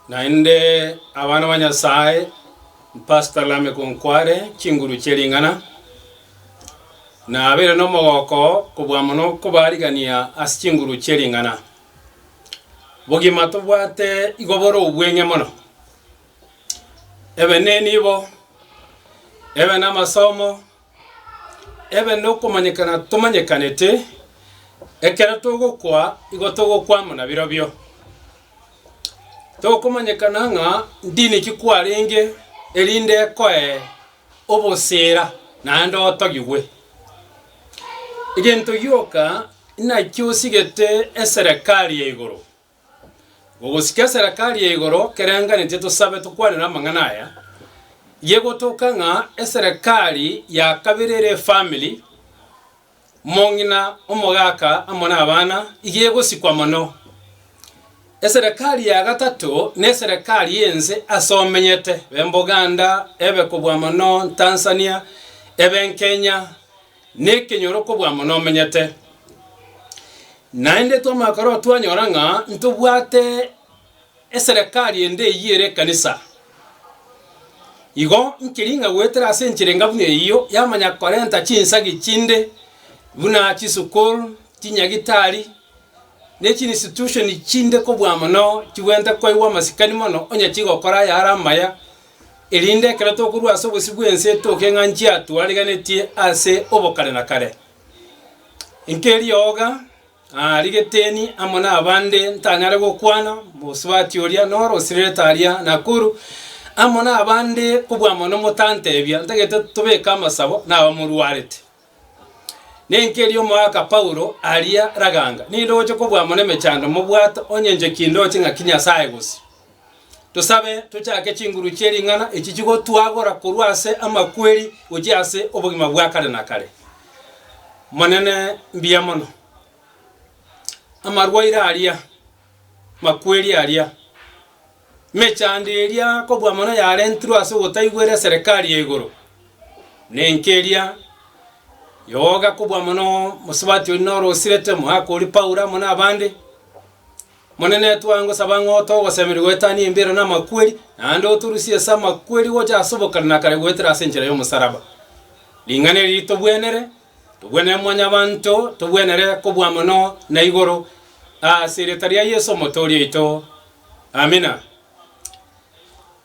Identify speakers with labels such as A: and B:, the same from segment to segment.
A: Naende abana ba Nyasaye, Pastor Lameck nkware chinguru chie ring'ana. Nabeire nomogoko kobua mono kobarigania ase chinguru chie ring'ana. Bogima tobwate igo bore obweng'e mono. Ebe ne nibo, ebe namasomo, Ebe nokomanyekana tomanyekanete, ekero togokwa igo togokwa amo nabirobio. Tokomanyekana ng'a ndini ki kwarenge erinde ekoe obosera naende otogigwe. Egento gioka inaki osigete eserekari ya igoro. Ogosike eserekari ya igoro kerenganetie tosabe tokwanere amang'ana aya, ye gotoka ng'a eserekari ya kabere ere efamili, mong'ina, omogaka amo nabana, iga egosikwa mono. Eserekari ya gatato neserekari y'ense ase omenyete, ebe Boganda, ebe kobua mono Tanzania, ebe Kenya, Nekenyoro kobua mono omenyete. Naende twamakoro twanyora ng'a ntobwate eserekari ende eyio ere ekanisa. Igo nkeri ng'a goetera ase enchera enga buna eyio yamanya korenta chinsagi chinde buna chisukuru, chinyagitari, ne chiinstitution chinde kobua mono chibwenerete koigwa amasikani mono onye chigokora ayare amaya, erinde ekero tokorwa ase obosio bw'ense etoke ng'a nchia twariganetie ase obokare na kare. Inki erioga? Aa rigeteni amo nabande ntanyare gokwana mosubati oria noro osirerete aria Nakuru, amo nabande kobua mono motantebia ntagete tobeke amasabo nabamorwarete. Ninki erio omoaka Paulo aria raganga? Ninde ogocha kobua amo nemechando mobwate onye inche kindoche ng'aki Nyasae gose? Tosabe tochake chinguru chie ring'ana echi chigotuagora korwa ase amakweri gochia ase obogima bwa kare na kare. Monene mbuya mono. Amarwaire aria, makweri aria. Emechando eria kobua mono yarentirwe ase ogotaigwera eserekari ya igoro, nenki eria yoga kobua mono mosubati oria noro osirete omogaka oria Paulo amo nabande. Omonene, twangosaba ng'a otoe ogosemeria goetania embira na amakweri, naende otorusie ase amakweri gocha ase obokare na kare goetera ase enchera y'omosalaba. Ring'ana eri ritogwenere, togwenere Mwanyabaanto, togwenere kobua mono na igoro, ase erieta ria Yeso Omotooria oito. Amina.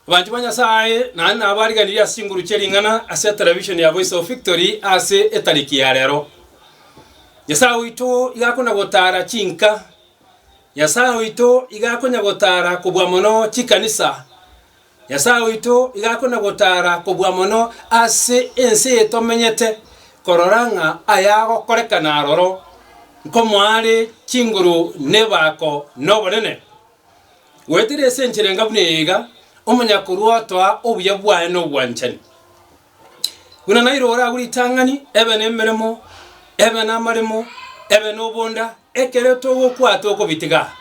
A: Abanto ba Nyasaye, naende nabo bariganirie ase chinguru chie ring'ana ase televishoni ya Voice of Victory ase etariki ya rero. Nyasaye oito iga akonya gotara chinka. Nyasaye oito iga akonya gotara kobua mono chikanisa. Nyasae oito igo akona gotaara kobua mono ase ense eye tomenyete, korora ng'a aya agokorekana aroro, nkomoare chinguru nebaako nobonene. Goetera ase enchera enga buna eye iga, omonyakorua otoa obuya bwaye nobwanchani, Buna nairo oragwe ritang'ani, ebe nemeremo, ebe namaremo, ebe nobonda, ekero togokwa tokobitiga.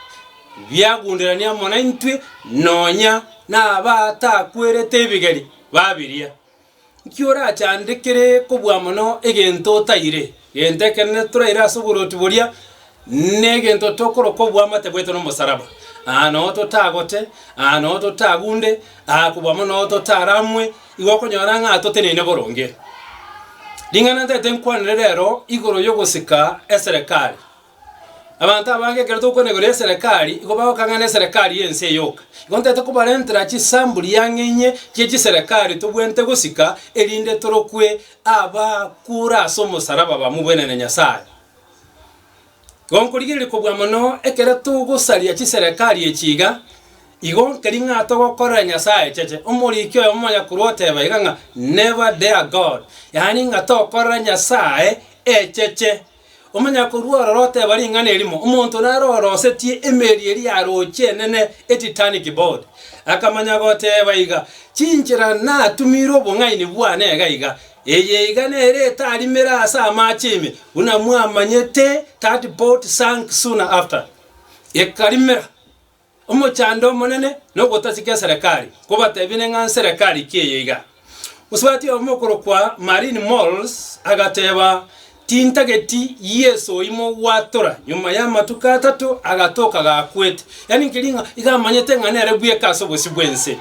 A: Biagunderania amo naintwe, nonya nabatakwerete ebigeri babiria. Nki orachandekere kobua mono egento otaire? Gento ekenene toraire ase oborwoti boria negento tokoroka oboamate bwaito nomosaraba. Aa nao totagote, aa nao totagunde, aa kobwamo nao totaramwe, igo okonyora ng'a toteneine boronge. Ring'ana ntagete nkwanere rero igoro yogosika eserekari. Abanto abange ekero togokwana igoro y'eserekari, igo bagokang'ana eserekari y'ense eye yoka. Igo ntete kobarentera chisambuli yang'einye chie chiserekari tobwenerete gosika, erinde torokwe abakure ase omosaraba bamogwenere Nyasae. Igo nkorigereria kobua mono ekero togosaria chiserekari echi iga, igo nkeria ng'a togokorera Nyasae echeche. Omoriki oyomo omonyakorwa oteba iga ng'a never dare God, yaani ng'a tokorere Nyasae echeche. Omonyakorua ororo oteba ring'ana erimo, omonto naro orosetie emeeri eria ya rochi enene e Titanic board, akamanya goteba iga, Chinchera natumire obong'aini bwane iga iga, eye iga nere etarimera ase amache ime, buna mwamanyete, that boat sank soon after. Ekarimera. Omochando omonene nogotaseka eserekari, kobatebie neng'a nserekari ki eye iga. Osubati oyomo okorokwa Marine Mols agateba, Tintageti Yeso oimo gwatora, nyuma y'amatuko atato agatoka gakwete. Yani nkeri ng'a iga amanyete ng'a nere bweka ase obosio bw'ense.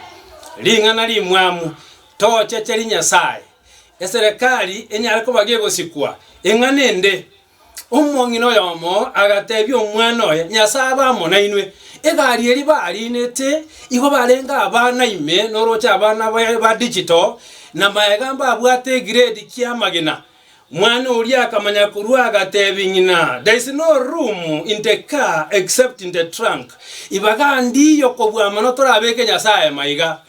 A: Ring'ana rimwamu, tochecheri Nyasae. Eserekari enyare koba gegosikwa, ing'ana ende. Omong'ina oyomo agateebia omwana oye, Nyasae abe amo nainwe. Egari eria bariinete igo barenge abana ime noroche abana baye ba digital, na magega mbabwate egrade ki'amagena. Mwana oria akamanya korwa agateebia ng'ina, There is no room in the car except in the trunk. Ibaga ndiiyo kobua mono torabeke Nyasae maiga.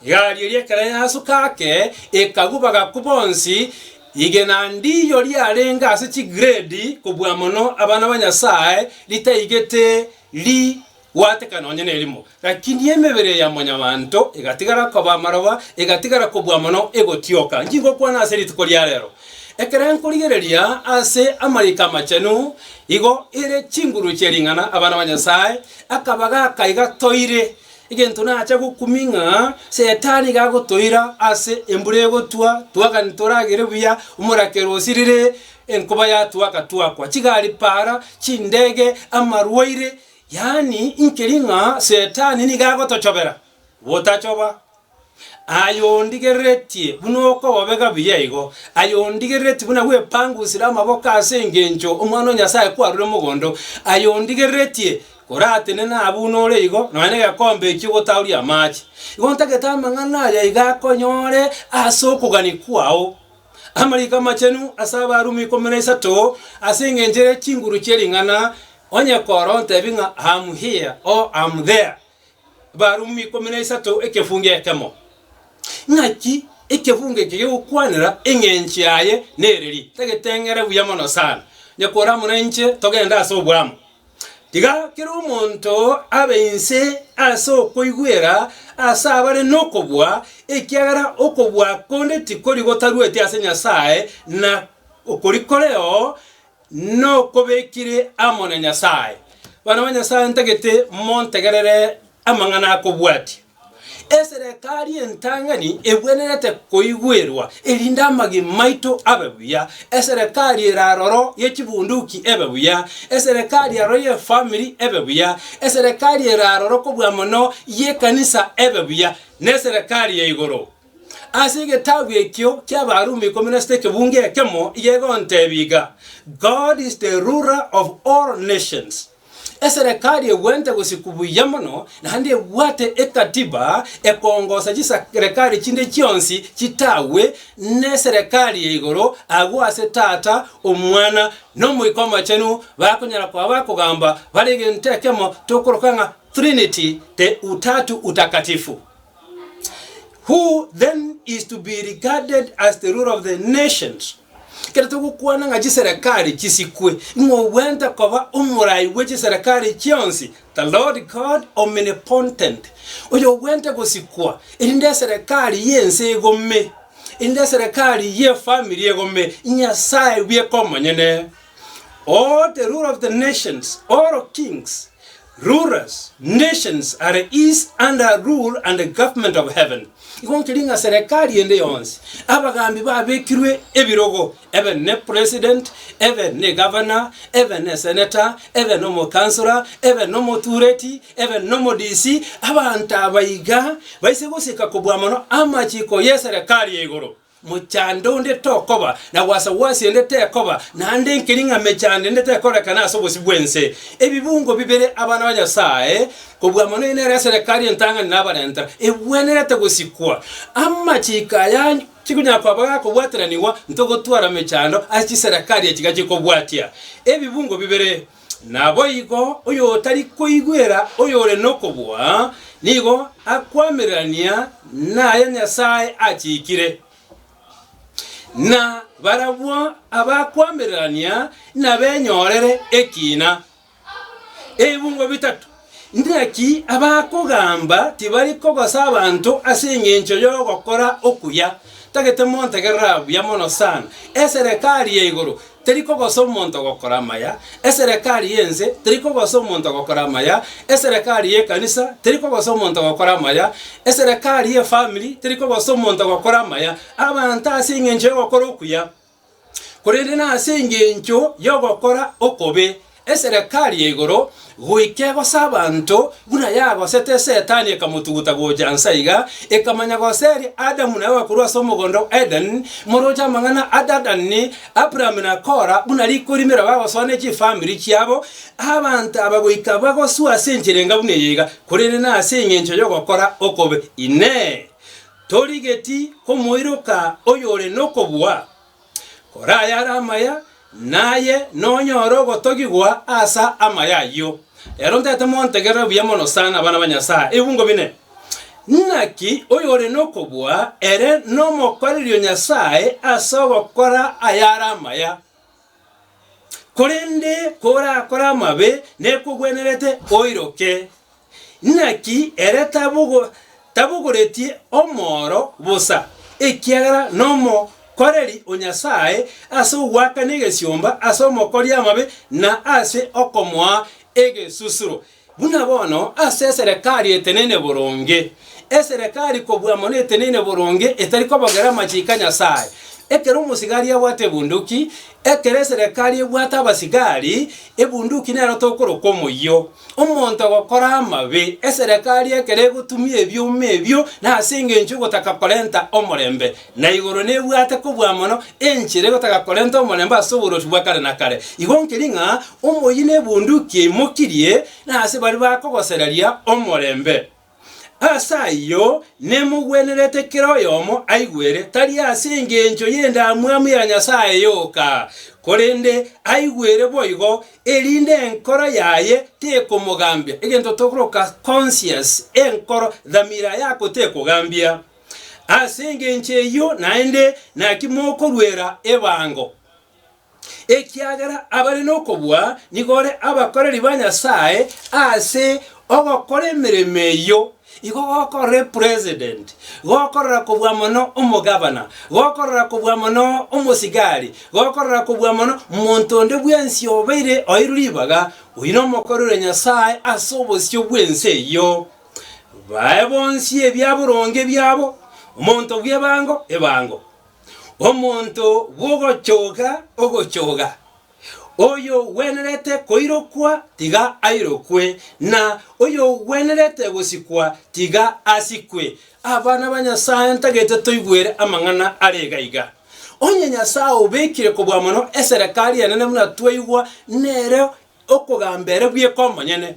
A: Egari eria ekero yasoka ake, ekagwa bagakwa bonsi. Rigena ndiiyo riarenge ase chigrade kobua mono abana ba Nyasae ritaigete rigwateka nonye nerimo. Lakini emebere ya mwanyabanto egatigara koba amaroba, egatigara kobua mono egotioka. Inki ngokwana ase rituko ria rero? Ekero nkorigereria ase amariko amachenu, igo ere chinguru chie ring'ana abana ba Nyasae akaba gaka iga toire Egento nacha gokumia ng'a Setani iga agotoira ase embura egotwa, twagani toragere buya omorakero osirire, enkoba yatwaka twakwa, chigari para, chindege, amarwaire, yaani inkeri ng'a Setani nigo agotochobera botachoba. Aye ondigereretie buna okobobega buya igo, aye ondigereretie buna gwepangusire amaboko ase engencho Omwana o Nyasae kwarure mogondo, aye ondigereretie koratenena abwo nore igo, nonya negekombe ekio gotaoria amache. Igo ntagete amang'ana aya iga akonyore ase okogania kwao. Amariko amachenu ase Abarumi ikomi na isato, ase engencho ere chinguru chie ring'ana, onye kora ontebi ng'a I am here, or I am there, Abarumi ikomi na isato ekefungo ekemo. Ng'aki ekefungo eke gegokwanera eng'encho yaye nereri? Tageteng'ere buya mono sana, onye kore amo nainche togende ase obwamo. Tiga kera omonto abe inse ase okoigwera ase abare nokobua, ekiagera okobua konde tikori gotarueti ase Nyasae, na okori koreo nokobekire amo na Nyasae. Bana ba Nyasae ntagete montegerere amang'ana akobwatia. Eserekari entang'ani ebwenerete koigwerwa erinde amagima maito abe buya. Eserekari ere aroro ye chibunduki ebe buya. Eserekari aroro ye famiri ebe buya. Eserekari ere aroro kobua mono ye ekanisa ebe buya. Neserekari ya igoro. Ase egetabu ekio ki'Abarumi ikomi na sita ekebungo ekemo iga egontebia iga, God is the ruler of all nations. Eserekari ebwente gosikwa buya mono, naende ebwate ekatiba ekongosa chiserekari chinde chionsi chitagwe neserekari ya igoro, agwo ase Tata, Omwana, na Omoika Omochenu bakonyara koba bakogamba bare egento ekemo tokoroka ng'a Trinity, the Utatu Utakatifu. Who then is to be regarded as the ruler of the nations? Ekero togokwana ng'a chiserekari chisikwe, ng'a obwente koba omorai bwe chiserekari chionsi, the Lord God omnipotent, oyo obwente gosikwa, erinde eserekari y'ense egome, erinde eserekari y'efamiri egome, Nyasae bweka omonyene. O the ruler of the nations, all kings, Rulers, nations are is under rule and government of heaven, igo nkeri ng'a serekari ende yonsi, abagaambi babekirwe ebirogo, ebe ne president, ebe ne gavana, ebe ne seneta, ebe nomokansora, ebe nomotureti, ebe nomodisi, abanto aba iga baise gosika kobua mono amachiko ye serekari ya igoro. Mochando onde tokoba, na gwasa gw'ase ende tekoba, naende enkeri ng'a mechando ende tekorekana ase obosio bw'ense. Ebibungo bibere, abana ba Nyasae, kobua mono eye nere eserekari entang'ani na abarentera, ebwenerete gosikwa. Amachiko aya chikonyara koba gakobwateranigwa, ntogotwara mechando ase chiserekari echi gachikobwatia ebibungo bibere. Naboigo oyotari koigwera oyore nokobua nigo akwamererania naya Nyasae achikire, na barabwo abakwamererania nabenyorere ekina. Ebibungo bitato. Naki abakogamba tibari kogosa abanto ase engencho y'ogokora okuya, tagete montegerera buya mono sana. Eserekari ya igoro teri kogosa omonto gokora amaya, eserekari y'ense teri kogosa omonto gokora amaya, eserekari y'ekanisa teri kogosa omonto gokora amaya, eserekari y'efamiri teri kogosa omonto gokora amaya. Abanto ase engencho y'ogokora okuya korende nase engencho y'ogokora okobe eserekari ya igoro goika egose abanto, buna yagosete Setani ekamotuguta gocha inse aiga, ekamanya goseria Adamu na Ewa korwa ase omogondo o Edeni, morooche amang'ana a Dadani, Aburaham na Kora, buna rikorimera bagosoa ne chifamiri chiabo, abanto aba goika bagosua ase enchera enga buna eye iga, korende nase engencho y'ogokora okobe. Inee! Torigeti omoiroka oyore nokobua, kora ayare amaya, naye nonyore ogotogigwa asa amaya ayio. Ero ntaete montegerere buya mono sana, abana ba Nyasae. Ebungo bine. Naki oyore nokobua ere nomokorerio Nyasae ase ogokora ayare amaya, Korende korakore amabe nekogwenerete oiroke. Naki ere tabogo tabogoretie omoro bosa, ekiagera nomokoreri o Nyasaye ase ogoakana egesiomba ase omokori amabe na ase okomoa egesusuro. Buna bono ase eserekari etenene boronge, eserekari kobua mono etenene boronge etari kobogera amachiko a Nyasae, ekero omosigari abwate ebunduki, ekero eserekari ebwate abasigari, ebunduki nero tokorokwa omoyio. Omonto ogokora amabe, eserekari ekero egotumia ebioma ebio, nase engencho y'ogotaka korenta omorembe, Na igoro nebwate kobua mono, enchera egotaka korenta omorembe ase oborochi bwa kare na kare. Igo nkeri ng'a omoyio nebunduki eimokirie, na ase baria bakogosereria omorembe. Ase ayio nemogwenerete kera oyomo aigwere, tari ase engencho y'endamwamu ya nyasae yoka, korende aigwere boigo, erinde enkoro yaye tekomogambia, egento tokoroka conscience, enkoro, dhamira, yako tekogambia. Ase engencho eyio naende naki mokoruera ebango, ekiagera abare nokobua nigo ore abakoreri ba Nyasae ase ogokora emeremo eyio, igo gokorora epresident, gokorora kobua mono omogabana, gokorora kobua mono omosigari, gokorora kobua mono monto onde bwensi obeire oirwe ribaga, oyio nomokoreri o Nyasae ase obosio bw'ense eyio. Bae bonsi ebia boronge biabo, omonto bw'ebango ebango, omonto bw'ogochoga ogochoga. Oyogwenerete koirokwa tiga airokwe, na oyogwenerete gosikwa tiga asikwe. Abana ba Nyasae, ntagete toigwere amang'ana are iga iga. Onye Nyasae obekire kobua mono eserekari enene buna twaigwa, nere Okogamba ere bweka omonyene,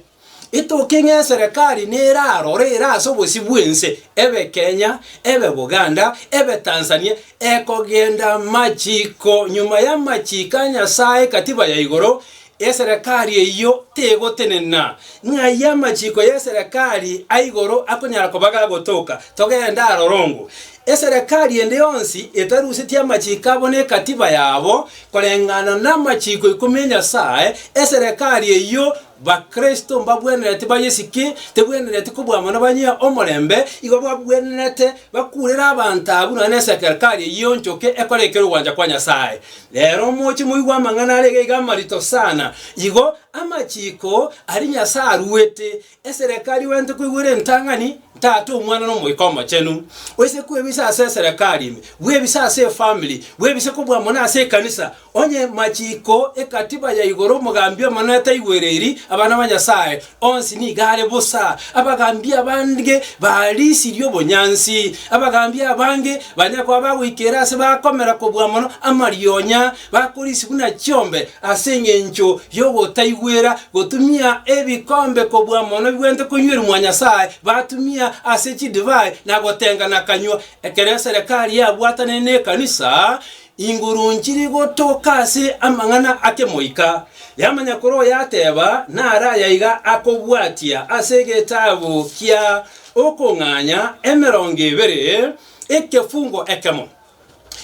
A: Etoke ng'a eserekari nerarore ere ase obosio bw'ense, ebe Kenya, ebe Buganda, ebe Tanzania, ekogenda amachiko nyuma y'amachiko a Nyasae Katiba ya igoro, eserekari eyio tegotenena. Ng'ai amachiko y'eserekari a igoro akonyara koba gagotoka? Togende aroro ongo. Eserekari ende yonsi etarusetie amachiko abo ne ekatiba yabo koreng'ana namachiko ikomi 'e Nyasae, eserekari eyio Bakristo mbagwenereti bayesike, tebwenereti kobwamwa nabanyia omorembe, igo babwenerete bakurere abanto abwo nonya nesekerkari eyio enchoke ekore ekero ogwancha kwa Nyasae. Rero moche moigwe amang'ana arege iga amarito sana, igo amachiko aria Nyasae aruete, Eserekari gwento kweigwera entang'ani, ntata Omwana n'Omoika Omochenu. Oise kwebisa ase eserekari ime, bwebise ase efamiri, bwebise kobua mono ase ekanisa, onye machiiko ekatiba ya igoro omogambi omonene taigwereiri abana ba Nyasae, onsi nigo are bosa. Abagambi abange barisirie obonyansi. Abagambi abange banyare koba bagoikera ase bakomera kobua mono amarionya, Bakorisi buna chiombe ase engencho y'ogotaigwera, gotumia ebikombe kobua mono bibwenerete konywerumwa Nyasae, batumia ase chidivai na gotengana kanywa. Ekero eserekari yabwatanire nekanisa, inguru nchiri gotoka ase amang'ana akemoika, yamanya kore oyateba nare aya iga akobwatia ase egetabu kia Okong'anya emerongo ebere, ekefungo ekemo.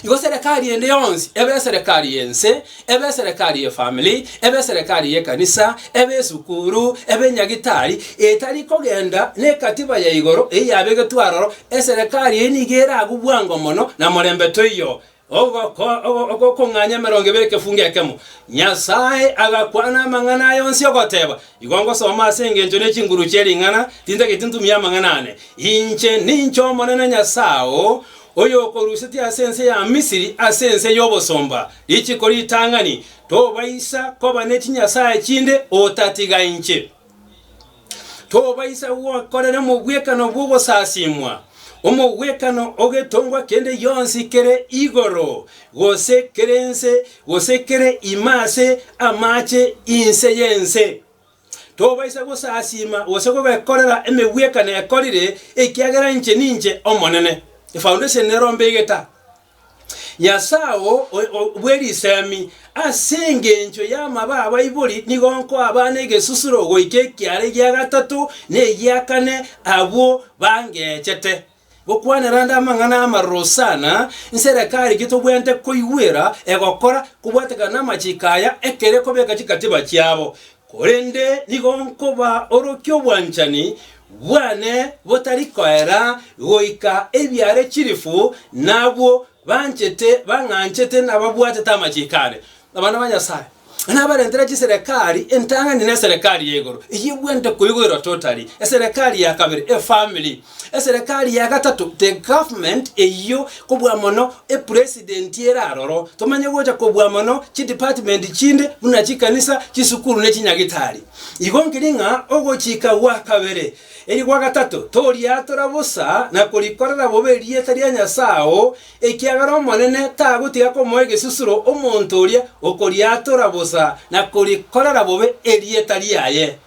A: Igo serekari ende yonsi ebe eserekari y'ense, ebe eserekari y'efamili, ebe eserekari y'ekanisa, ebe esukuru, ebe enyagitari, etari kogenda nekatiba ya igoro eyio yabegetwe aroro, eserekari eyio nigo eragwe bwango mono na morembe toiyo. Ogokong'anya emerongo ebere ekefungo ekemo, Nyasae agakwana amang'ana aya onsi ogoteba, Igo ngosoma ase engencho ne chinguru chie ring'ana, tintageti ntumie amang'ana ane. Inche ninche Omonene Nyasae oo, oyokorusetie ase ense ya Misiri, ase ense y'obosomba, richiko ritang'ani, tobaisa koba ne chinyasae chinde otatiga inche. Tobaisa gwakorera omogwekano bw'ogosasimwa, omogwekano ogetongwa kende gionsi kere igoro, gose kere nse, gose kere ime ase amache inse y'ense. Tobaisa gosasiima gose kobekorera emegwekano ekorire, ekiagera inche ninche Omonene, efoundation erombe egeta, Nyasae oo bwe risemi. Ase engencho y'amaba abaibori nigo nkoabana egesusuro goika ekiara egia gatato na egia kane abwo bangechete. Gokwanera ande amang'ana amaroro Hosana, inse ere kare intwe tobwenerete koigwera, egokora, kobwatekana namachiko aya, ekere kobeka chikatiba chiabo. Korende nigo nkoba orokia obwanchani bwane botari koera goika ebiare chilifu nabwo banchete, bang'anchete, nababwatete amachiko ane. Abana ba Nyasae, na nabarentera chiserekari, entang'ani na eserekari ya igoro, eyio ebwente koigoirwa totally, eserekari ya kabere, efamily, eserekari ya gatato, the government, eyio kobua mono epresidenti ere aroro, tomanye gocha kobua mono chidepartment chinde buna chikanisa, chisukuru ne chinyagitari. Igo nkirie ng'a ogochika gwa kabere, eri gwa gatato, toriatora bosa na korikorera bobe erieta ria Nyasae oo Ekiagera Omonene tagotiga komoa egesusuro omonto oria okoriatora bosa na korikorera bobe erieta riaye.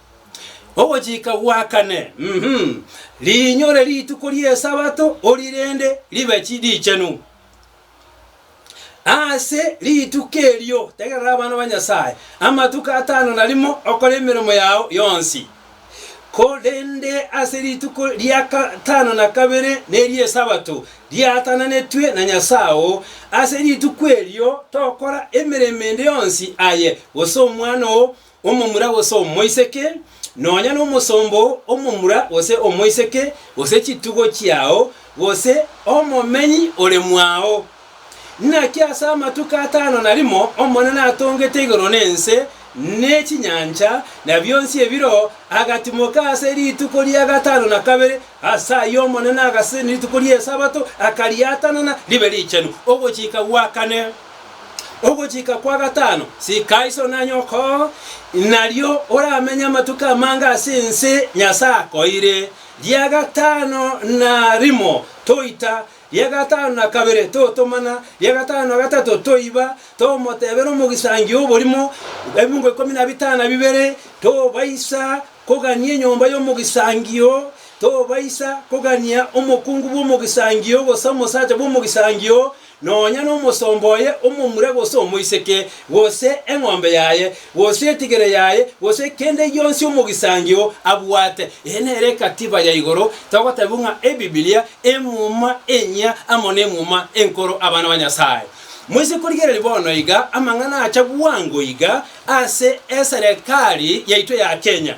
A: Ogochika gwa kane, mm, riinyore rituko ri'Esabato orirende ribe richenu. Ase rituko erio tegerera abana ba Nyasae amatuko atano na rimo okore emeremo yao yonsi. Korende ase rituko ria gatano na kabere neri'Esabato, riaatananetwe na Nyasae oo. Ase rituko erio tokora emeremo ende yonsi, aye gose omwana oo omomura gose omoiseke, nonya nomosomba oo omomura gose omoiseke, gose chitugo chiao, gose omomenyi ore mwao. Naki ase amatuko atano na rimo Omonene atongete igoro na ense, ne chinyancha, na bionsi ebireo, agatimoka ase rituko ria gatano na kabere. Ase ayio Omonene agasesenia rituko ri'Esabato, akariatanana ribe richenu ogochika gwa kane. Ogochika kwa gatano sika iso na nyoko, nario oramenye amatuko amange ase ense Nyasae akoeire. Ria gatano na rimo toita, Ria gatano na kabere totomana, ria gatano na gatato toiba, tomotebera omogisangio oborimo, ebingo ikomi na bitano na bibere, tobaisa kogania enyomba y'omogisangio, tobaisa kogania omokungu bw'omogisangio, gose omosacha bw'omogisangio, nonya nomosomba oye omomura gose omoiseke, gose eng'ombe yaye, gose etigere yaye, gose kende gionsi omogisangio oo abwate. Eye nere egatiba ya igoro, togotebiwa ng'a Ebibilia, Emuma enyia amo n'Emuma enkoro abana ba Nyasae. Moise korigereria bono iga amang'ana acha bwango iga ase eserekari yaito ya Kenya.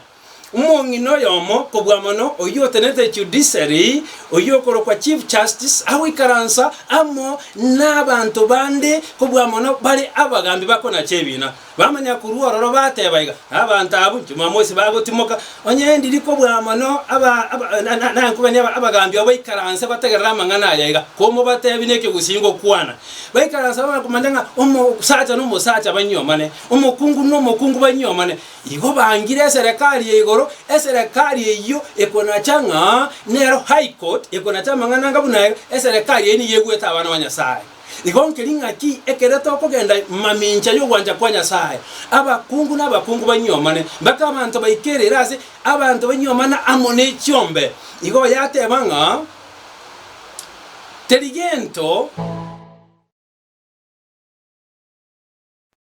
A: Omong'ina oyomo kobua mono, oyio otenenete judiciary, oyio okorokwa chief justice, agoikaransa amo nabaanto bande kobua mono bare abagambi bakonacha ebiina. Bamanya korwa ororo bateba iga, Abanto abwo inche mwamosi bagotimoka, onye ndiri kobua mono aba, aba, na, na, nankobani aba, abagambi abo baikaranse bategerere amang'ana aya iga, komobatebi neke gusii ngokwana. Baikaranse bamanyakomanya ng'a omosacha nomosacha banyiomane, omokungu nomokungu banyiomane, Igo bangire eserekari ya igoro, eserekari eyio ekonacha ng'a nero High Court, ekonacha amang'ana anga buna ere, eserekari eyio nigo egwete abana ba Nyasae. Igo nkeri ng'aki ekero tokogenda mamincha y'ogwancha kwa Nyasae, abakungu nabakungu banyiomane, mpaka abanto baikerere ase abanto banyiomane amo ne chiombe. Igo yateba ng'a, Teri gento.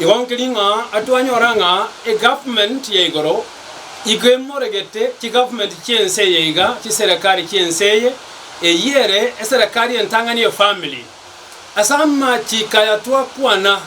A: Igo nkeri ng'a atwanyora ng'a eGovernment ya igoro igo emoregete chiGovernment chi'ense eye iga, chiserekari chi'ense eye. Eyio ere eserekari entang'ani efamily. Ase amachiko aya twakwana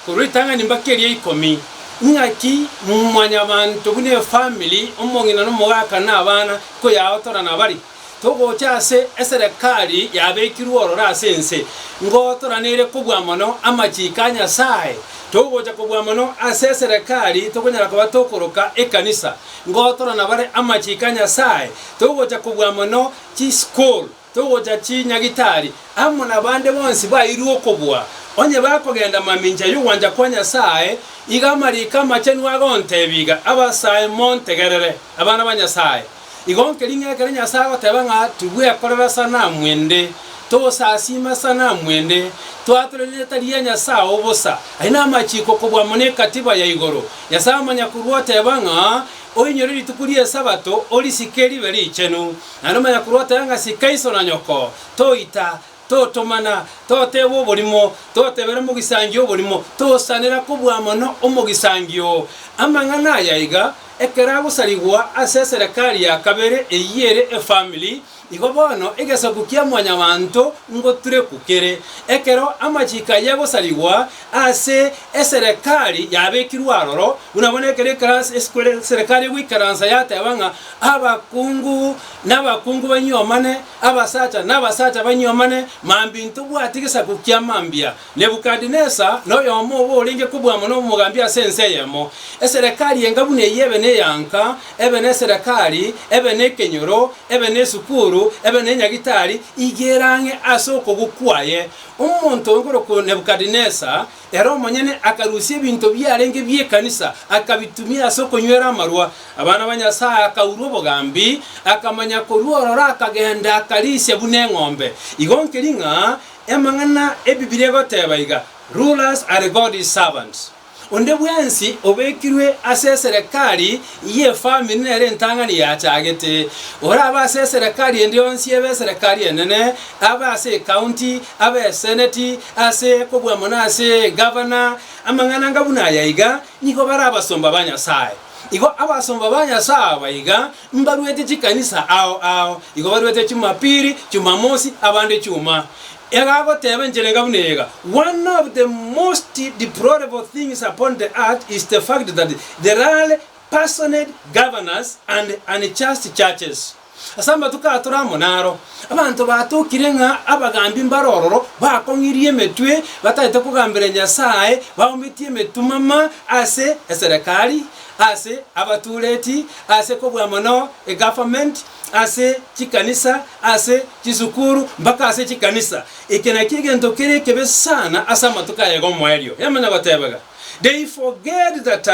A: korwa ritang'ani mbaka eria ikomi, ing'aki mwanyabanto buna efamily, omong'ina na omogaka na abana, koyaotorana bari. Togocha ase eserekari yabekirwe ororo ase ense, ngotoraneire kobua mono amachiiko a Nyasae. Togocha kobua mono ase eserekari, tokonyara koba tokoroka ekanisa, ngotorana bare amachiiko a Nyasae. Togocha kobua mono chisukuru, togocha chinyagitari, amo nabande bonsi bairwe okobua, onye bakogenda mamincha yogwancha kwa Nyasae, iga amariiko amachenu agontebia iga, Abasae, montegerere, abana ba Nyasae. Igo nkeri ng'a ekero Nyasae agoteba ng'a tibwekorera sanamu ende, togosasiima esanamu ende, twatura rieta ria Nyasae obosa. Aye namachiiko kobua mono egatiba ya igoro. Nyasae Omonyakorwa oteba ng'a, Oinyore rituko ri'Esabato, orisike ribe richenu. Naende Omonyakorwa oteba ng'a Sika iso na nyoko, toita, Totomana, toteeba oborimo, totebera mogisangio oborimo, tosanera kobua mono omogisangio oo. Amang'ana aya aiga, ekero agosarigwa ase eserekari ya kabere eyio ere efamili, igo bono egesaku kia mwanyabanto ngoturekwa kere. Ekero amachiko ayio agosarigwa ase eserekari yabekirwe aroro, buna bono ekero eserekari egoikaransa yateba ng'a abakungu nabakungu banywomane, abasacha nabasacha banywomane, mambia intobwati gesaku kia mambia. Nebukadinesa noyomo obo orenge kobua mono omogambi ase ense eyemo. Eserekari enga buna eyio ebe neyanka, ebe neserekari, ebe nekenyoro, ebe nesukuru, ebe nenyagitari, igera ang'e ase okobua kwaye. Omonto oyo nkorokwa Nebukadinesa Ere omonyene akarusia ebinto biarenge bi'ekanisa, akabitumia ase okonywera amarwa. Abana ba Nyasae akaurwa obogambi, akamanya korwa ororo akagenda akarisia buna eng'ombe. Igo nkeri ng'a emang'ana Ebibilia egoteba iga, Rulers are God's servants. Onde bwensi obekirwe ase eserekari y'efamiri nere entang'ani yachagete. Orabe ase eserekari ende yonsi ebe eserekari enene, abe ase ekaunti, Abeseneti ase kobua mono ase egavana amang'ana anga buna aya iga nigo bare abasomba ba Nyasae. Igo abasomba ba Nyasae aba iga mbaruete chikanisa ao ao, igo baruete Chumapili, Chumamosi, abande Chuma. Egagoteba enchera enga buna ega, One of the most deplorable things upon the earth is the fact that there are personate governors and unjust churches. Ase amatuko aya tore amo naro, abanto batokire ng'a abagaambi mbare ororo, bakong'irie emetwe, bataete kogambera Nyasae, baumbetie emetumama ase eserekari, ase abatuureti, ase kobua mono egaverment, ase chikanisa, ase chisukuru, mpaka ase chikanisa. Eke nakio egento kere ekebe sana ase amatuko aya 'Egomoerio. Yamanya gotebega, They forget that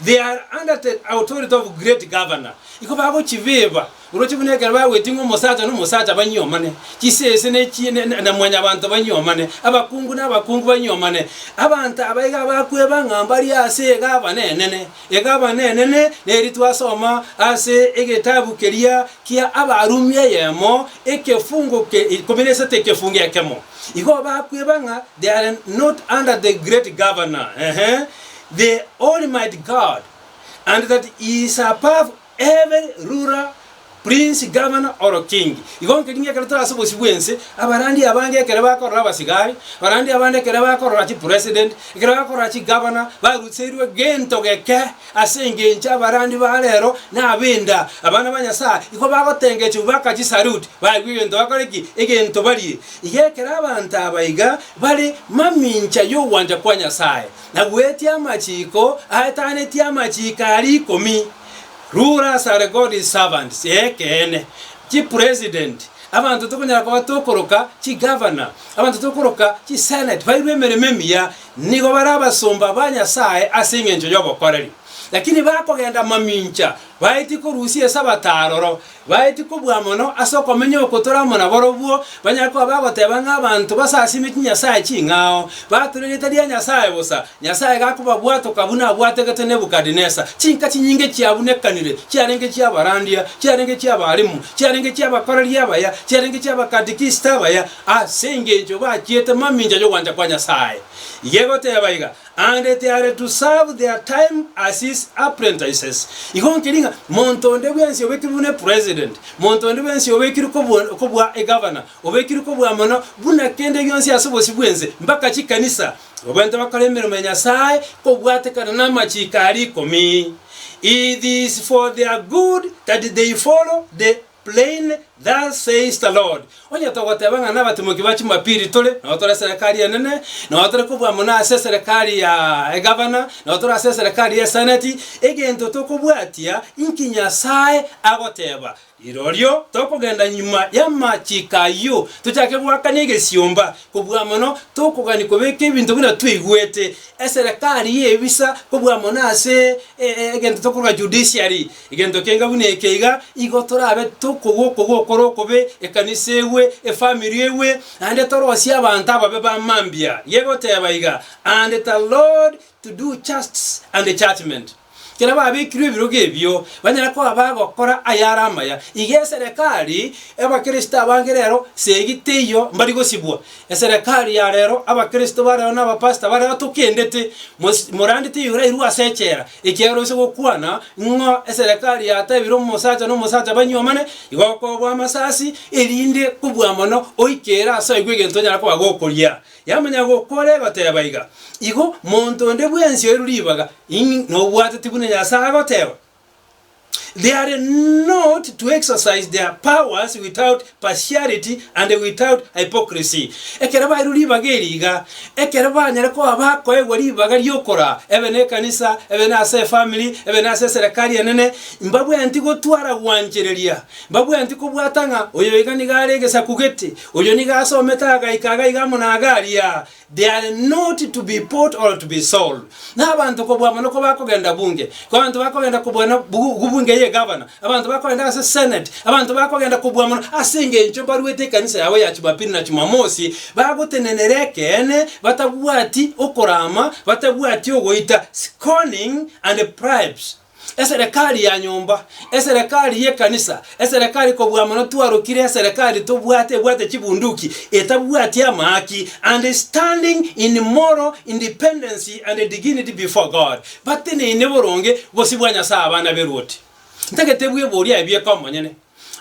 A: They are under the authority of great governor, igo bagochibeba oroche buna ekero bagwetie ng'a omosacha nomosacha banyuomane, chisese ne chi ne na na mwanyabanto banyuomane, abakungu nabakungu banyuomane. Abanto aba iga bakweba ng'a mbari ase egavana enene, egavana enene neri twasoma ase egetabu keria kia Abarumi eyemo ekefungo ke ikomi na isato ekefungo ekemo. Igo bakweba ng'a they are not under the great governor, ehe, the Almighty God, and that he is above every ruler, prince, governor, or king. Igo nkeri ng'ekero tore ase obosio bw'ense, abarandia abange ekero bakorora abasigari, abarandia abande ekero bakorora chipresident, ekero bakorora chigovernor, baruseirwe gento geke, ase engencho abarandi ba rero nab'enda, abana ba Nyasae, igo bagotengechigwa baka chisalute, baigwe egento bakore ki? Egento barie. Iga ekero abanto aba iga bare mamincha y'ogwancha kwa Nyasae, na bweti amachiiko aetanetie amachiiko aria ikomi, rulers are God's servants, ekeene, chipresident, abanto tokonyara koba tokoroka chigavana, abanto tokoroka chiseneti, bairwe emeremo emiya, nigo bare abasomba ba Nyasae ase engencho y'obokoreri. Lakini bakogenda mamincha, baetie korusia Esabato aroro, Baetie kobua mono ase okomenya oko tore amo naborobwo, banyare koba bagoteba ng'a abanto basasimie chinyasae ching'ao, bature erieta ria Nyasae bosa. Nyasae gakobabwatoka buna abwategete Nebukadnesa, chinka chinyinge chiabunekanire, chiarenge chi'abarandia, chiarenge chi'abalimu, chiarenge chi'abakoreri abaya, chiarenge chi'abakatikist abaya, ase engencho bachiete mamincha y'ogwancha kwa Nyasae. Igegoteba iga. And they are to serve their time as his apprentices. Igo nkeri ng'a monto onde bwensi obekirwe buna epresident, monto onde bwensi obekirwe kobua kobua egavana, obekirwe kobua mono buna kende gionsi ase obosio bw'ense, mbaka chikanisa, babaente bakore emeremo ya Nyasae kobwatekana namachiiko aria ikomi. It is for their good that they follow the. Plain, Thus says the Lord, Onye togoteba ng'a nabatimoki ba chimapiri tore, nao tore eserekari enene, nao tore kobua mono ase eserekari ya egavana, nao tore ase eserekari y'eseneti, egento tokobwatia inki Nyasae agoteba, rirorio tokogenda nyuma y'amachiko ayio, tochake goakana egesiomba, kobua mono tokogani kobeka ebinto buna twaigwete, eserekari y'ebisa, kobua mono ase egento tokoroka judiciary. Egento kenge buna eke iga igo torabe tokogwa okogwa okore okobe ekanisa egwe, efamiri egwe, naende torosie abanto ababe ba mambia, gegoteba iga, And it allowed to do justs and judgment. Ekero babekirwe ebirogo ebio, banyare koba bagokora ayare amaya. Iga eserekari y'Abakristo abange rero segi teiyo mbari gosibwa. Eserekari ya rero, Abakristo ba rero na abapastor ba rero tokendete, mos- morandete eyorwairwe ase echela, Ekiagera ase gokwana ng'a eserekari yatebire omosacha nomosacha banyuomane, igokoobwa amasasi, erinde kobua mono oike ere ase aigwe egento onyare koba gokoria. Yamanya gokora egoteba iga, Igo, monto onde bwensi oirwe ribaga, ing, nobwateti buna Nyasae agoteba. They are not to exercise their powers without partiality and without hypocrisy. Ekero bairwe ribaga eri iga, ekero banyare koba bakoegwa ribaga ri'okoraa, ebe nekanisa, ebe nase efamiri, ebe nase eserekari enene, mbabweanti gotwara gwanchereria. Mbabweanti kobwata ng'a oyo iga nigo are egesaku gete, oyo nigo asomete agaika agaiga amo na agaria, They are not to be bought or to be sold, na abanto kobua mono kobakogenda bunge, abanto bakogenda kobua na gu bunge ye gavana, abanto bakogenda ase senate, abanto bakogenda kobua mono ase engencho mbaruete ekanisa yabo ya Chumapili na Chumamosi, bagotenenera ekeene, batabwati okorama, batabwati ogoita, scorning and bribes. Eserekari ya nyomba, eserekari y'ekanisa, eserekari kobua mono twarokire, eserekari tobwate ebwate chibunduki, etabwati amaaki, and standing in moral independency and dignity before God, bateneine boronge bosio bwa Nyasae abana b'eruoti. Ntagete bweboria ebi eke omonyene.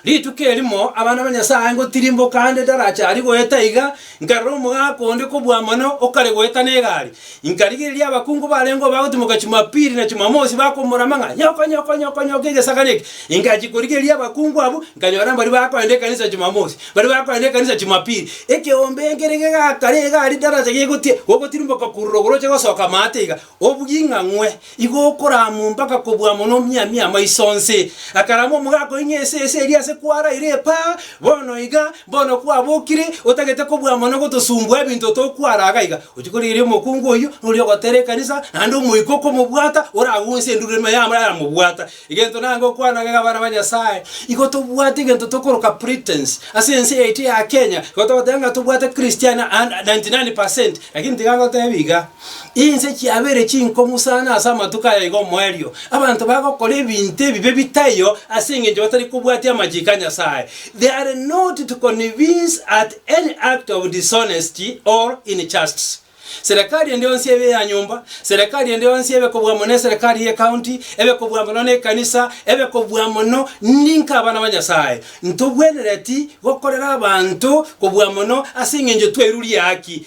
A: Rituko erimo abana ba Nyasae ngotirimboka ande daracha aria goeta iga, nkarora omogaka onde kobua mono okare goeta negari. Inkarigereria abakungu barengeo bagotimoka Chimapili na Chimamosi bakomorama ng'a, Nyoko, nyoko, nyoko, nyoko egesakani eke! Ingachia korigereria abakungu abwo, nkanyora mbaria bakoenda ekanisa Chimamosi, mbaria bakoenda ekanisa Chimapili. Ekeombe nkere gegaakare egari daracha gegotirimboka korwa igoro goroche gosoka amaate iga, Obw'ing'ang'we, igo okorama mpaka kobua mono omiamia amaiso onsi. Akarama omogaka oing'e ase ese eria ase kwaraire epaa, bono iga, bono kwabokire, otagete kobua mono gotosumbua ebinto tokwara iga iga. Rituko riria omokungu oyio noria ogotera ekanisa, naende omoika okomobwata, oragunse endururu ime yamo eramobwata. Egento nange okwana ng'a abana ba Nyasae, igo tobwate egento tokoroka pretense. Ase ense yaito ya Kenya, igo togoteba ng'a tobwate Christian ninety nine percent, lakini tiga ngotebie iga. Inse chiabeire chinkong'u sana ase amatuko aya iga omoerio. Abanto bagokora ebinto ebibe bitaiyo ase engencho batari kobwatia amachiko a Nyasae. They are not to convince at any act of dishonesty or injusts. Serekari ende yonsi ebe eya nyomba, serekari ende yonsi ebe kobua mono eserekari ye county, ebe kobua mono ne ekanisa, ebe kobua mono ninka abana ba Nyasae. Ntobwenereti gokorera abanto kobua mono ase engencho twairuria haki,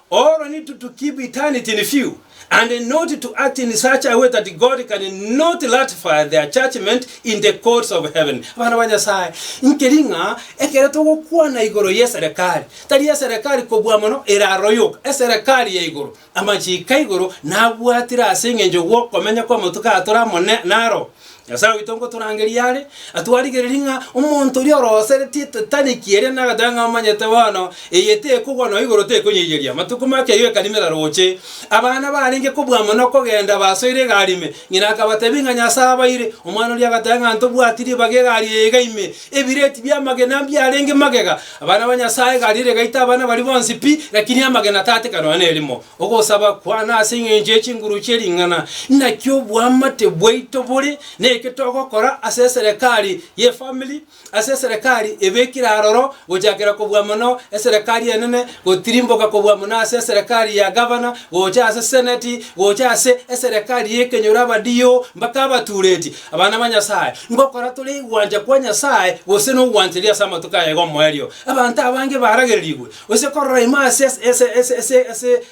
A: All need to to keep eternity in view and not to act in such a way that God can not ratify their judgment in the courts of heaven. Abana ba Nyasae, nkeri ng'a ekero togokwana igoro y'eserekari, tari eserekari kobua mono eraroyoka, eserekari ya igoro, amachiko a igoro nabwatire ase engencho gw'okomenya kw'amatuko aa tore amo naro, Nyasae oito ngotorangeria are, atwarigererie ng'a omonto oria oroseretie etataniki eria nagateba ng'a omanyete bono, eye tekogwa nonya igoro tekonyeyeria. Amatuko make ayio ekari meraro gocha eye. Abana barenge kobua mono okogenda basoire egari ime. Ng'ina akabatebia ng'a Nyasae abaire. Omwana oria agateba ng'a ntobwati ribaga egari eye iga ime. Ebireti bi'amagena mbiarenge magega. Abana ba Nyasae egari ere egaita abana baria bonsi pi, lakini amagena tatika nonya nerimo. Ogosaba kwane ase engencho ye chinguru chie ring'ana inaki oboamate bwaito bore, na eke togokora ase eserekari y'efamiri, ase eserekari ebekire aroro, gochakera kobua mono eserekari enene, gotirimboka kobua mono ase eserekari ya gavana, gocha ase seneti, gocha ase eserekari y'ekenyoro abadio mpaka abatureti. Abana ba Nyasae, ngokora tore igwancha kwa Nyasae gose nogwancheria ase amatuko aye 'gomoerio. Abanto abange baragererigwe Gose korora ime ase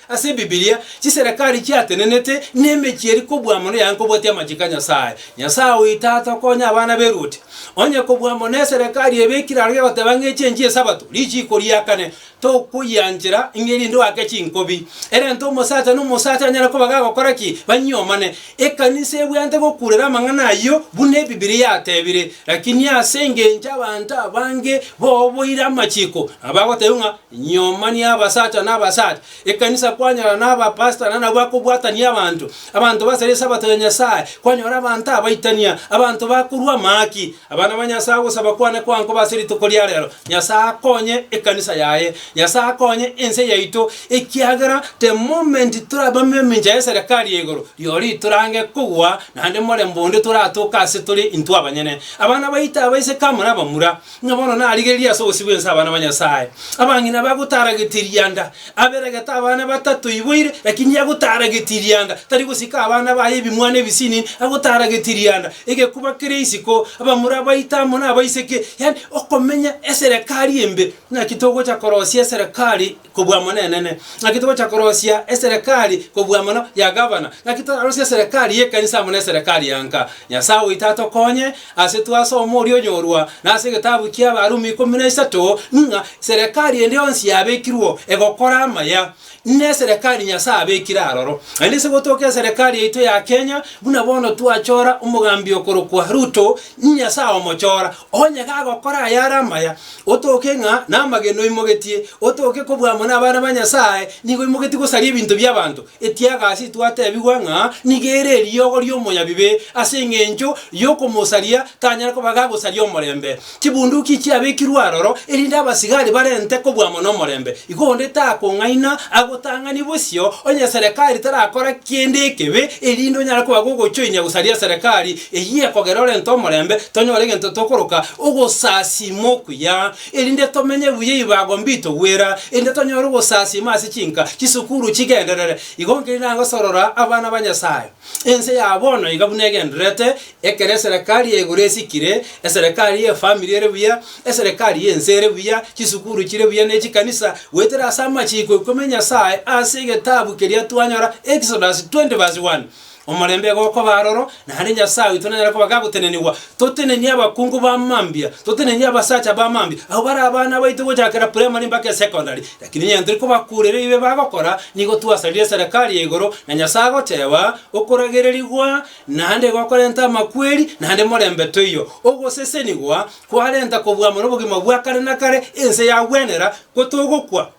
A: ase Ebibilia, chiserekari chiatenenete, na emechie eri kobua mono yaye nkobwatia amachiko a Nyasae. Nyasae oyi Tata okonya abana b'eruoti. Onye kobua mono eserekari ebekire aroro gegoteba ng'a echi enchie Esabato, richiiko riakane, tokoyianchera, ng'erinde oake chinkobi. Erente omosacha na omosacha anyare koba gagokora ki? Banyuomane. Ekanisa ebweate gokurera amang'ana ayio buna Ebibilia yatebire, lakini ase engencho abanto abange boboire amachiko, nabo bagotebiwa ng'a nyoma ni'abasacha na abasacha. Ekanisa kwanyora nabapastor nana bakobwatania abanto, abanto basare Esabato ya Nyasae, kwanyora abanto abaitania, abanto bakorua amaaki. Abana ba Nyasae ogosaba kwane kwankoba ase rituko ria rero, Nyasae akonye ekanisa yaye. Nyasae akonye ense yaito. Ekiagera the moment torabame emincha y'eserekari y'igoro, rirorio itorange kogwa, naende morembe onde toratoke ase tore intwe abanyene. Abana baito abaiseke amo nabamura, ng'a bono narigereria ase ogosibwa ense abana ba Nyasae. Abang'ina bagotara getirianda, aberegete abana batato iboire, lakini yagotara getirianda, tari gosika abana baye ebimwana ebisini, agotara getirianda, egekuba kere isiko, abamura baito amo nabaiseke, yaani okomenya eserekari embe. Naki togocha korosia eserekari. kobua mono enene, ng'aki togocha korosia eserekari kobua mono ya gavana, ng'aki torarosie eserekari y'ekanisa amo neserekari ya nka. Nyasae oito atokonye ase twasoma oria onyorwa nase egetabu ki'Abarumi ikomi na isato, ng'a serekari ende yonsi yabekirwe egokora amaya, neserekari Nyasae abekire aroro. Naende ase gotoka eserekari yaito ya Kenya, buna bono twachora omogambi okorokwa Ruto, Nyasae omochora, onye gagokora ayare amaya, Otoke ng'a namagena oimogetie, otoke kobua amo nabana ba Nyasae, nigo oimogetie gosaria ebinto bi'abanto, ekiaga ase twatebigwa ng'a nigo ere eriogo ri'omonyabibe, ase engencho yokomosaria tanyare koba gagosaria omorembe. Chibunduki chiabekirwe aroro, erinde abasigari barente kobua amo nomorembe. Igo onde takong'aina agotang'anie bosio onye serikari terakora kende ekebe, erinde onyare koba gogochoinia gosaria serikari, Eyio ekogera orente omorembe, tonyore egento tokoroka ogosasiima okuya, erinde tomenye buya ebibago mbitogwera, erinde tonyore ogosasiima ase chinka chisukuru chigenderere. Igo nkeri nagosorora abana ba Nyasae. Ense ya bono iga buna egendererete, ekero eserekari ya igoro esikire, eserekari y'efamiri ere buya, eserekari y'ense ere buya, chisukuru chire buya ne chikanisa, goetera ase amachiiko ikomi a Nyasae ase egetabu keria twanyora, Exodus 20 vs 1. Omorembe iga okoba aroro, naende Nyasae oito nanyare koba gagotenenigwa. Totenenie abakungu ba mambia, totenenie abasacha ba mambia, abwo bare abana baito gochakera primary mpaka esecondary. Lakini onye tori kobakureria ebibe bagokora, nigo twasarire eserekari ya igoro, na Nyasae agoteeba, Okoragererigwa naende gokorenta amakweri, naende morembe toiyo. Ogosesenigwa kwarenta kobua mono obogima bwa kare na kare, ense yagwenera, ko togokwa.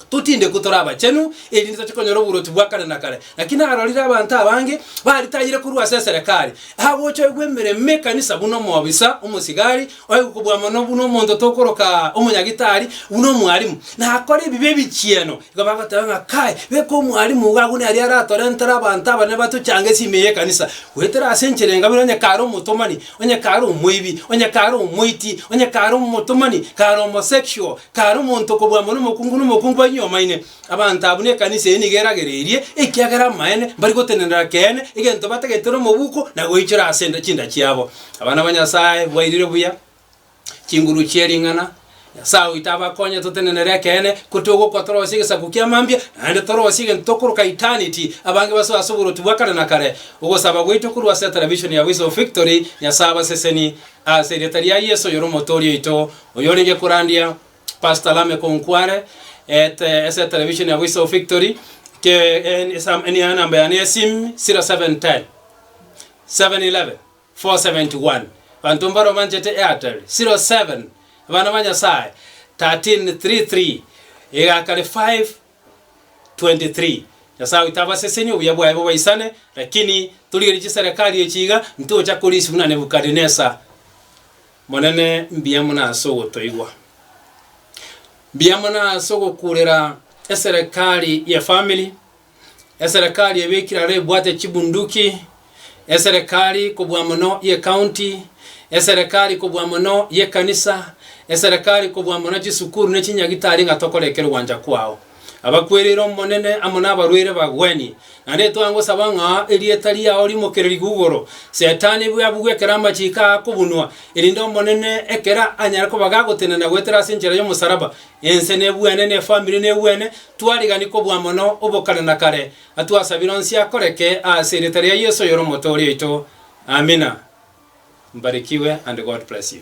A: Totinde ko tore abachenu, erinde toche konyora oboruoti bwa kare na kare. Naki narorire abanto abange baritayire korwa ase eserekari, agocha oigwa emeremo ekanisa buna omobisa, omosigari, oigwa kobua mono buna omonto tokoroka omonyagitari, buna omwalimu. Nakore ebibe ebichieno, igo bagoteba ng'a Kai, beka omwalimu iga agwo nere aratorentere abanto abanene batochange ase ime y'ekanisa. Goetera ase enchera engabire onye kare omotomani, onye kare omoibi, onye kare omoiti, onye kare omotomani, kare omo sexual, Tari omonto okobua amo nomokungu, nomokungu banywe omoine. Abanto abwo nekanisa eye nigo eragereirie, ekiagera amaene mbari gotenenera keene egento batagete nomobuko na goichora ase enda chinda chiabo. Abana ba Nyasaye bwairire buya chinguru chie ring'ana. Nyasaye oito abakonye totenenere ekeene ko togokwa torosie egesaku kia mambia naende torosie egento tokoroka eternity. Abange basoe ase oboroti bwa kare na kare. Ogosaba gwaito korwa ase televishoni ya Voice of Victory. Nyasaye abasesenie. Ase erieta ria Yeso oyore omotoori oito, oyorenge korandia Pastor Lameck Onkware, ete ese television ya Voice of Victory, ke en esam enia enamba yane ya sim, 0710 711 471, banto mbare omanchete Airtel, 07 abana ba Nyasaye 1333 egakare 5 23 Nyasae oito abasesenie obuya bwaye bobaisane, lakini torigerie chiserekari echi iga, ntocha korisia buna Nebukadinesza. Monene, mbuya mono ase ogotoigwa. Mbuya mono ase ogokurera eserekari ye family, eserekari ebekire aro ebwate chibunduki, eserekari kobua mono y'ecounty, eserekari kobua mono y'ekanisa, eserekari kobua mono chisukuru ne chinyagitari ng'a tokore ekero gwancha kwao. Abakwereire Omonene amo nabarwaire bagwenie, naende twangosaba ng'a erieta riao rimokererigwe igoro, Setani bwe abugwe ekero amachiko aa akobunwa, erinde Omonene ekero anyare koba gagotenena goetera ase enchera y'omosalaba. Ense nebwene, ne efamiri nebwene, twarigani kobua mono obokare na kare, Atwasabire onsi akoreke aase erieta ria Yeso oyore Omotoori oito. Amina. Mbarikiwe and God bless you.